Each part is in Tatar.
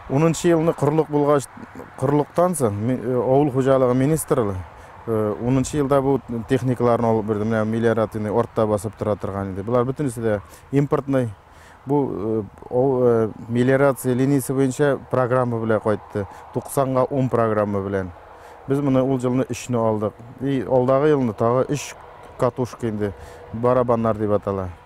Унынчы елны корылык булгач, корылыктан соң ми- э, авыл хуҗалыгы министрлы э, унынчы елда бу техникаларны алып бирде. Менә мелиоративный артта басып тора торган иде. Болар бөтенесе дә импортный. Бу э, ау- э, мелиорация линиясе буенча программа белән кайтты. 90-га 10 программа белән. Без моны ул елны 3-не алдык. И алдагы елны тагы 3 катушка инде барабаннар дип атала.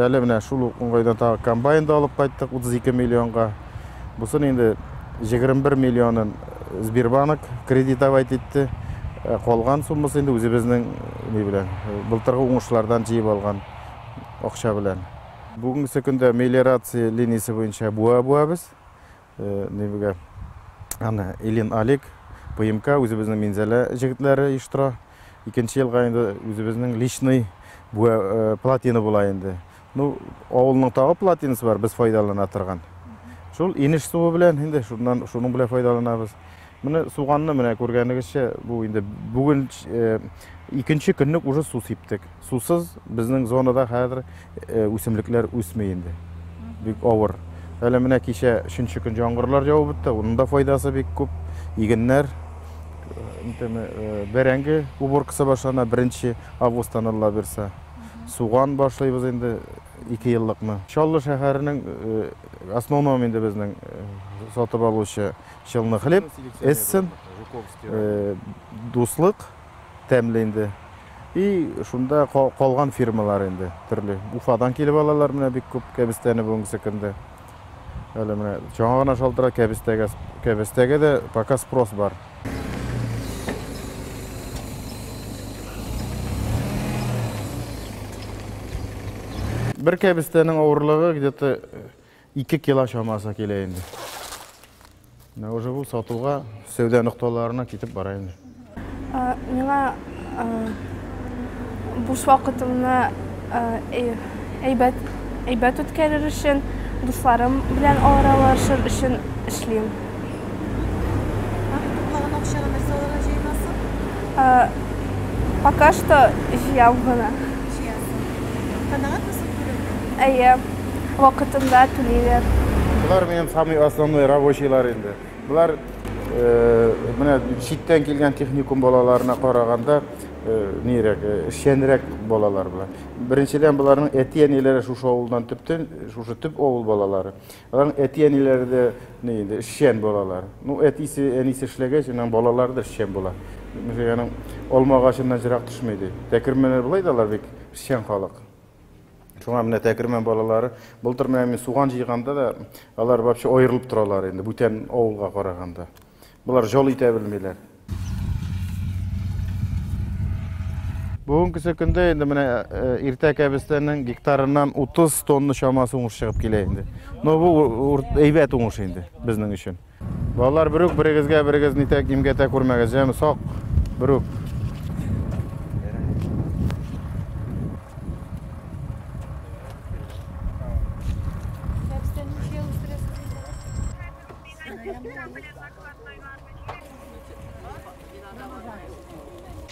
Әле менә шул ук уңайдан тагы комбайн да алып кайттык 32 миллионга. Бусын инде 21 миллионын Сбербанк кредитовать итте. Ә калган суммасы инде үзебезнең ни белән, былтыргы уңышлардан җыеп алган акча белән. Бүгенге көндә мелиорация линиясе буенча буа буабыз. Нивгә? Аны Илин Алик, ПМК, үзебезнең Минзәлә җегетләре оештыра. Икенче елга инде үзебезнең личный буа э, платина була инде. Ну, авылның тагы платинасы бар, без файдалана торган. Шул инеш суы белән инде шуннан шуның белән файдаланабыз. Моны суганны менә күргәнегезчә, бу инде бүген икенче көнлек уже су сиптек. Сусыз безнең зонада хәзер үсемлекләр үсми инде. Бик авыр. Әле менә кичә өченче көн яңгырлар явып үтте, уның да файдасы бик күп. Игеннәр бәрәңге уборкасы башлана беренче августтан алла бирса. Суган башлыйбыз инде ике еллыкны. Чаллы шәһәренең основном инде безнең сатып алучы Челны хлеб, эссен, дуслык тәмле инде. И шунда калган фирмалар инде төрле. Уфадан килеп алалар менә бик күп кәбестәне бүгенге көндә. Әле менә жаңа гына шалтыра кәбестәгә. Кәбестәгә дә пока спрос бар. Бер кәбестәнең авырлыгы где-то Ике кило чамасы килә инде. Менә уже бу сатуга сәүдә нокталарына китеп бара инде. Миңа буш вакытымны әйбәт әйбәт үткәрер өчен, дусларым белән аралашыр өчен эшлим. Калган акчаны нәрсә алырга җыенасың? Пока что җыям гына. Җыясың. Канәгатьмесең күрүеңнән? Әйе. вакытында түлиләр. Болар минем самый основной рабочийлар инде. Болар менә читтән килгән техникум балаларына караганда нирәк, эшчәнрәк балалар болар. Беренчедән, боларның әти-әниләре шушы авылдан төптән, шушы төп авыл балалары. Аларның әти-әниләре дә ни инде, эшчән балалар. Ну, әтисе, әнисе эшләгәч, аның балалары да эшчән була. Мөҗәяның алма агачыннан җырак төшми ди. Тәкермәннәр болай да алар бик эшчән халык. Шуңа менә Тәкермән балалары, былтыр менә мин суган җыйганда да, алар вообще аерылып торалар инде, бүтән авылга караганда. Болар жол итә белмиләр. Бүгенге көндә инде менә э, иртә кәбестәнең гектарыннан 30 тонна чамасы уңыш чыгып килә инде. Но бу әйбәт уңыш инде безнең өчен. Балалар, берүк берегезгә берегез нитәк имгәтә күрмәгез, яме сак, берүк.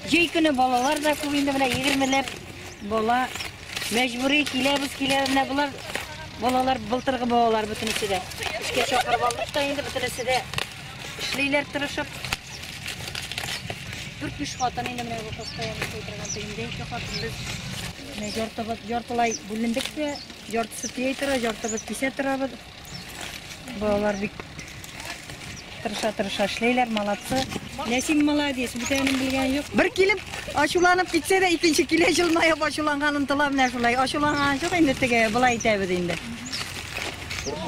Җәй көне балалар да күп инде менә егермеләп бала мәҗбүри киләбез киләбез менә болар балалар былтыргы балалар бөтенесе дә эшкә чакырып алдык та инде бөтенесе дә эшлиләр тырышып дүрт биш хатын инде менә бу постоянно эшли торган тегендә ике хатын без менә яртыбыз яртылай бүлендек тә яртысы тия тора яртыбыз кисә торабыз Балалар бик тырыша-тырыша эшләйләр, молодцы. Ләсин молодец, бүтәнен белгән юк. Бер килеп, ачуланып китсә дә, икенче килә җылмаеп ачуланган онтыла менә шулай. Ачуланган жоқ инде теге, былай әйтәбез инде.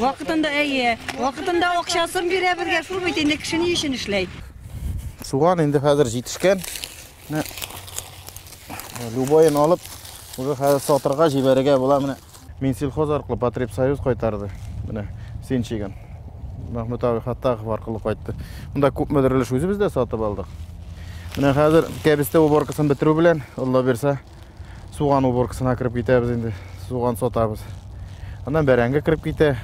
Вакытында әйе, вакытында акчасын бирә безгә, шул бит инде кеше ни өчен эшләй. Суган инде хәзер җитешкән. Менә любойын алып, уже хәзер сатырга җибәрергә була менә. Минсельхоз аркылы Потребсоюз кайтарды. Менә син чигән. Мәхмүт абый Хаттахов аркылы кайтты. Монда күпмедер өлеш үзебез дә сатып алдык. Менә хәзер кәбестә уборкасын бетерү белән, Алла бирсә, суган уборкасына кереп китәбез инде. Суган сатабыз. Аннан бәрәңге кереп китә.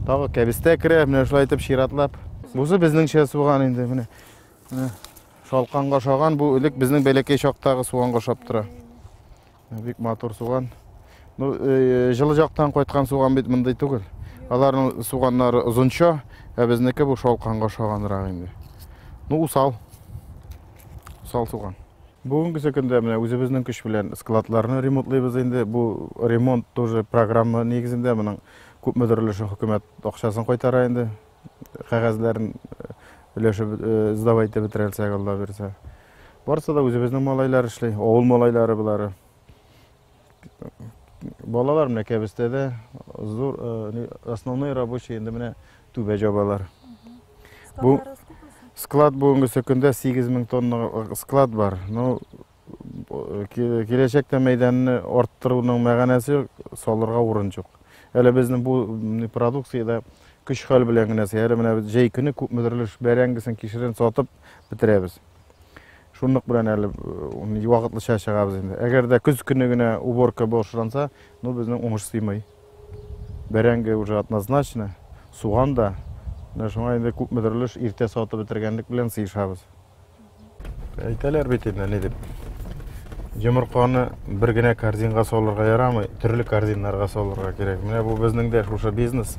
Тагы кәбестә керә, менә шулай итеп чиратлап. Бусы безнеңчә суган инде, менә. Шалканга шаган бу элек безнең бәләкәй чактагы суганга шап тора. Бик матур суган. Ну, э, жылы жактан кайткан суган бит мондый түгел. Аларның суганнары озынча, ә безнеке бу шалканга ошаганрак инде. Ну, усал. Усал суган. Бүгенге көндә менә үзебезнең көч белән складларны ремонтлыйбыз инде. Бу ремонт тоже программа нигезендә моның күпмедер өлеше хөкүмәт акчасын кайтара инде. кәгазьләрен өләшеп сдавать итеп бетерәлсәк алла бирсә барысы да үзебезнең малайлар эшли авыл малайлары болары балалар менә кәбестәдә зур основной рабочий инде менә түбә жабалар бу склад бүгенгесе көндә сигез мең тонна склад бар ну киләчәктә мәйданны арттыруның мәгәнәсе салырга урын жоқ әле безнең бу продукциядә көч хәл белән генә әле менә җәй көне күпмедер өлеш бәрәңгесен кишерен сатып бетерәбез шунлык белән әле вакытлыча чыгабыз инде әгәр дә көз көне генә уборка башланса ну безнең уңыш сыймый бәрәңге уже однозначно суган да менә шуңа инде күпмедер өлеш иртә сатып бетергәнлек белән сыешабыз Әйтәләр бит инде ни дип. Йомырканы бер генә корзинга салырга ярамый, төрле корзиннарга салырга кирәк. Менә бу безнең дә шушы бизнес.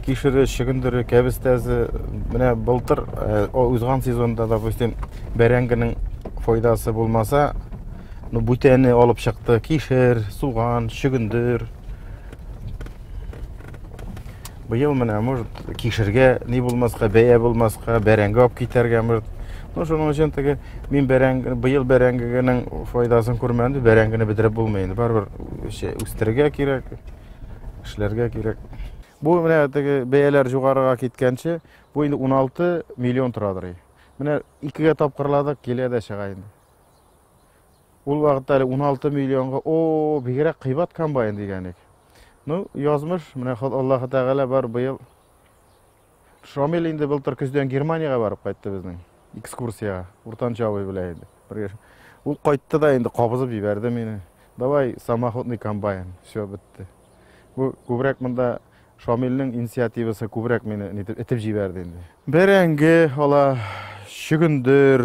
Кишере, чөгендере, кәбестәсе, менә былтыр э, узган сезонда, допустим, бәрәңгенең файдасы булмаса, ну, бүтәне алып чыкты, кишер, суган, чөгендер. Быел менә, может, кишергә ни булмаска, бәя булмаска, бәрәңге алып китәргә, может. Ну, шуның өчен теге мин бәрәңге, быел бәрәңгенең файдасын күрмәдем, бәрәңгене бетереп булмый инде. Барыбер үстерергә кирәк, эшләргә кирәк. Бу менә теге бәяләр югарыга киткәнче, бу инде 16 миллион торадыр. Менә икегә тапкырладык, килә дә чыга инде. Ул вакытта әле 16 миллионга, о, бигрәк кыйбат комбайн дигән ик. Ну, язмыш, менә Аллаһы Тәгалә бар быел. Шамил инде былтыр көздән Германиягә барып кайтты безнең экскурсиягә, уртанчы абый белән инде. Ул кайтты да инде кабызып җибәрде мине. Давай самоходный комбайн, все бетте. Бу күбрәк монда Шамилнең инициативасы күбрәк мине итеп җибәрде инде. Бәрәңге ала, чөгендер,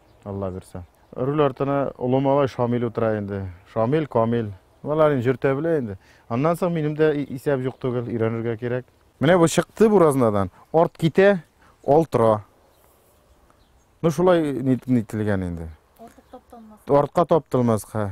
Алла бирсә. Руль артына олы малай Шамил утыра инде. Шамил, Камил. Алар инде җөртә белә инде. Аннан соң минем дә исәп юк түгел, өйрәнергә кирәк. Менә бу чыкты буразнадан, арт китә, ал тора. Ну шулай нителгән инде. Артка таптылмаска.